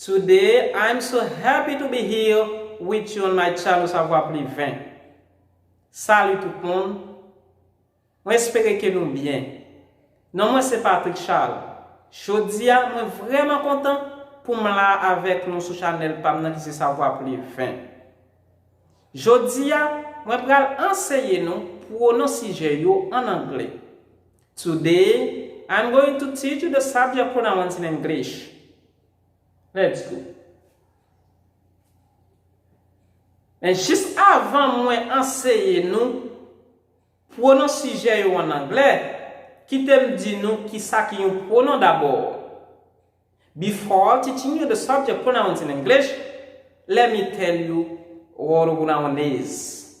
Today I'm so happy to be here with you on my channel Savoir Plus 20 Salut tout moun Mwen espere ke nou byen Non mwen se Patrick Charles Jodi a mwen vrèman kontan pou m la avèk nou sou chanèl pa m nan ki se Savoir Plus 20 Jodi a mwen pral anseye nou pwonon sijè yo an angle Today, I'm going to teach you the subject pronouns in English. Let's go. Men jis avan mwen anseye nou pwonon sijè yo an anglè, kite m di nou kisa ki yon pwonon dabò. Before teaching you the subject pronouns in English, let me tell you what a pronoun is.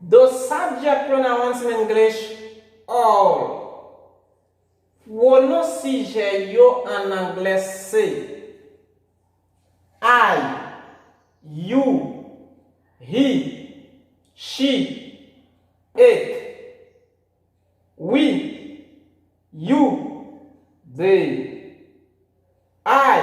The subject pronouncement English, all Pwonon sijè yo an anglè se, I, you, he, she, it, we, you, they, I,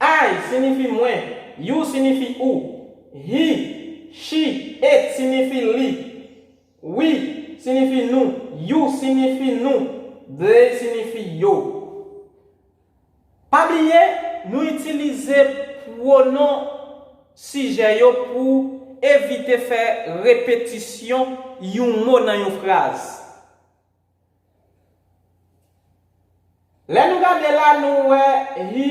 I sinifi mwen. You sinifi ou. He, she, it sinifi li. We sinifi nou. You sinifi nou. They sinifi yo. Pa bliye, nou itilize pwonon sijè yo pou evite fè repetisyon yon mo nan yon fraz. Lè nou gade la nou wè hi,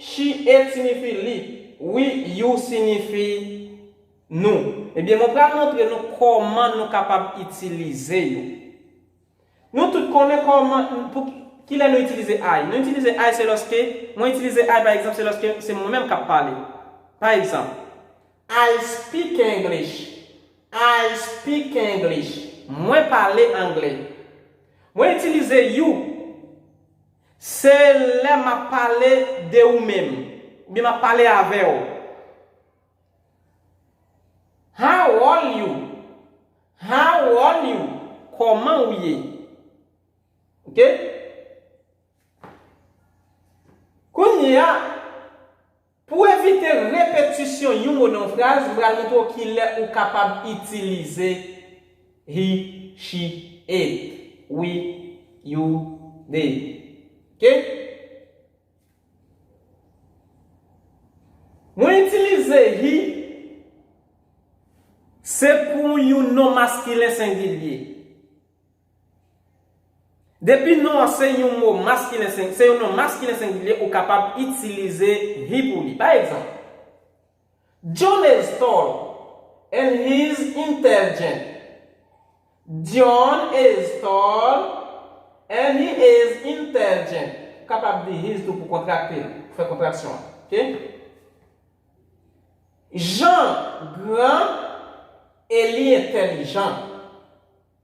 shi, et sinifi li, wi, you sinifi nou. Ebyen mwen pral montre nou kòman nou kapab itilize yo. Nou tout konnen kòman, kilè nou itilize I. Nou itilize I se lòske, mwen itilize I pa egzanp se lòske se mwen menm k ap pale. Pa egzanp, I speak English I speak English Mwen pale angle Mwen itilize you Se lè m ap pale de ou menm oubyen m ap pale avè w How old you How old you Kòman ou ye Ok Kounye a Pou evite repetisyon yon mo nan yon fraz, m pral montre w ki lè ou kapab itilize he, she, it, we, you, they. Ok? Mwen itilize he se pou yon non maskilen sengilye. Depi non an se yon mo maskilen sing se yon non maskilen sengilye ou kapab itilize he pou li. Pa egzanp, John is tall and he is intelligent. John is tall and he is intelligent. Ou kapab di his tou pou kontrakte l, pou fè kontraksyon an. Ok? Jean gran e li entèlijan.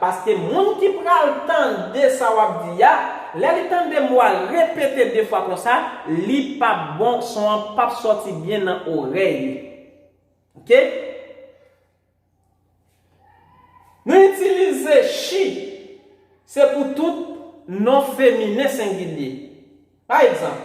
Paske moun ki pral tande sa wap di a, lè li tande mo a repete 2 fwa konsa, li pap bon, son an pap sòti byen nan orèy li. Ok. Nou itilize she, se pou tout non feminen sengilye. Pa egzanp,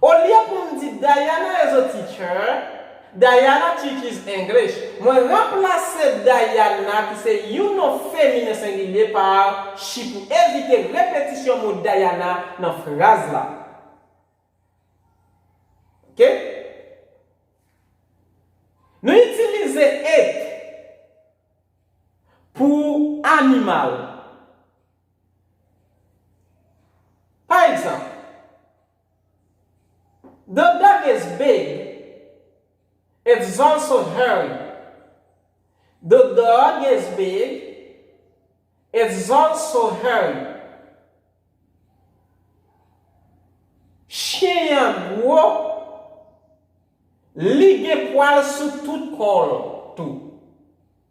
Olye poum di Diana is a teacher, Diana teaches English, mwen ranplase Dayana ki se yon non feminen sengilye pa she pou evite repetisyon mo Dayana nan fraz la. Ok. Nou itilize it pou animal. Pa egzanp, The dog is big, it's also hairy. The dog is big, it's also hairy. Chyen an gwo, li gen pwal sou tout kò l tou.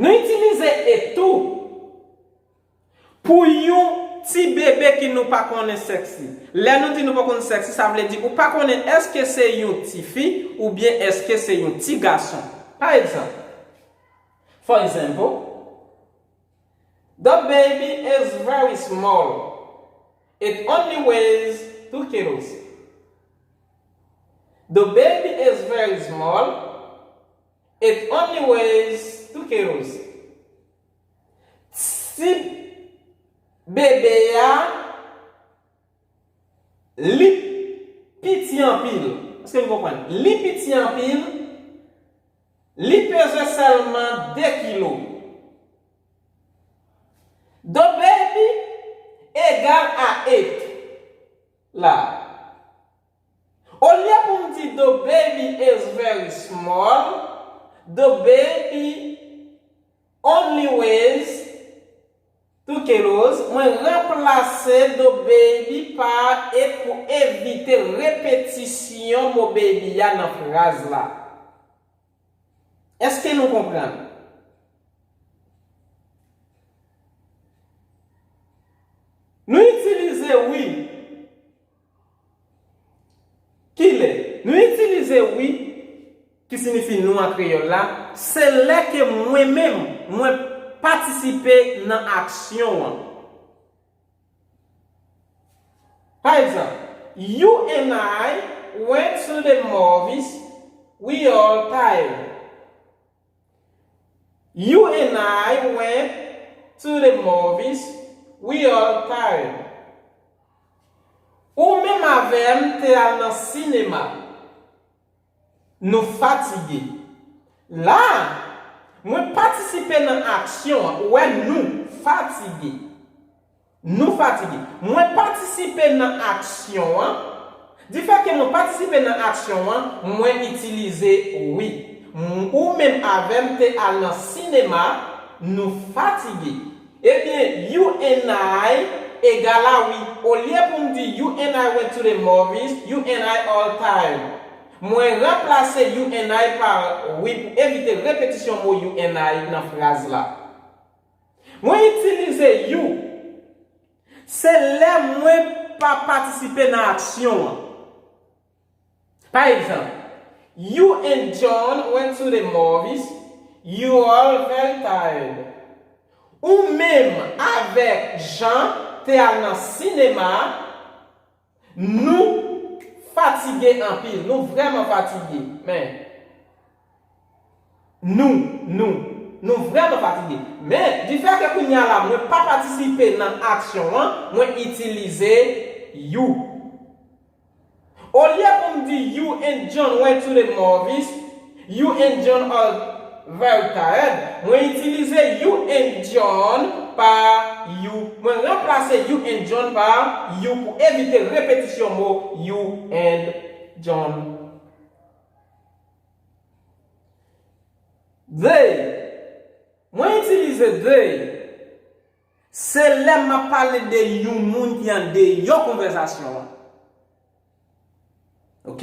Nou itilize e tou pou yon ti bebe ki nou pa konnen sèks li. Lè nou di nou pa konn sèks li, sa vle di ou pa konnen èske se yon tifi oubyen èske se yon ti gason. Pa egzanp, For example, The baby is very small. It only weighs two kilos. The baby is very small. It only ways to chaos Ti bebe a Li piti anpil Eske nou konprann? Li piti anpil Li peze sèlman 2 kilo The baby egal a 8 la Olye pou m di the baby is very small, the baby only weighs two kilos, mwen ranplase the baby pa it pou evite repetisyon mo baby a nan fraz la. Èske nou konprann? Nou itilize wi. Ki lè? Nou itilize wi, ki sinifi nou an kreyòl la, se lè ke mwen menm, mwen patisipe nan aksyon an. Pa egzanp, You and I went to the movies, we all tired. You and I went to the movies, we all tired. Ou menm avè m te al nan sinema, nou fatige. La a, mwen patisipe nan aksyon an, ou wè nou fatige. Nou fatige. Mwen patisipe nan aksyon an. Difèke mwen patisipe nan aksyon an, mwen itilize wi. Ou menm avè m te al nan sinema, nou fatige. Ebyen, you and I egala wi. Olye pou m di you and I went to the movies, you and I all time. Mwen ranplase you and I pa wi pou evite repetisyon mo you and I nan fraz la. Mwen itilize you. Se lè mwen pa patisipe nan aksyon an. Pa egzanp, You and John went to the movies, you all very tired. Ou menm avèk Jan te al nan sinema. Nou fatige anpil. Nou vrèman fatige. Men. Nou. Nou. Nou vrèman fatige. Men, di fè ke kounye a la mwen pa patisipe nan aksyon an, mwen itilize you. Olye pou m di you and John went to the movies, You and John are very tired Mwen itilize you and John pa you Mwen ranplase you and John pa you pou evite repetisyon mo you and John They Mwen itilize they se lè m ap pale de yon moun ki andeyò konvèzasyon an. Ok?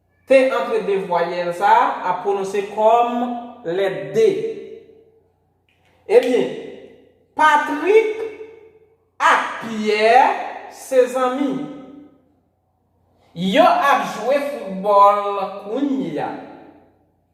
T antre de vwayèl sa a ap pwononse kòm lèt D. Ebyen, Patrik ak Pyè se zanmi. Yo ap jwe foutbòl kounye a.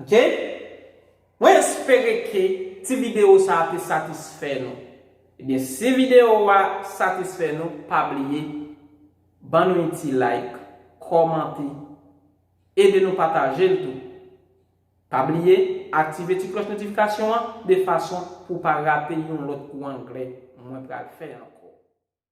Ok Mwen espere ke ti video sa te satisfè nou Ebyen si video a satisfè nou pa bliye ban nou yon ti like kòmante ede nou pataje l tou Pa bliye aktive ti klòch notifikasyon an de fason pou w pa rate yon lòt kou anglè mwen pral fè ankò.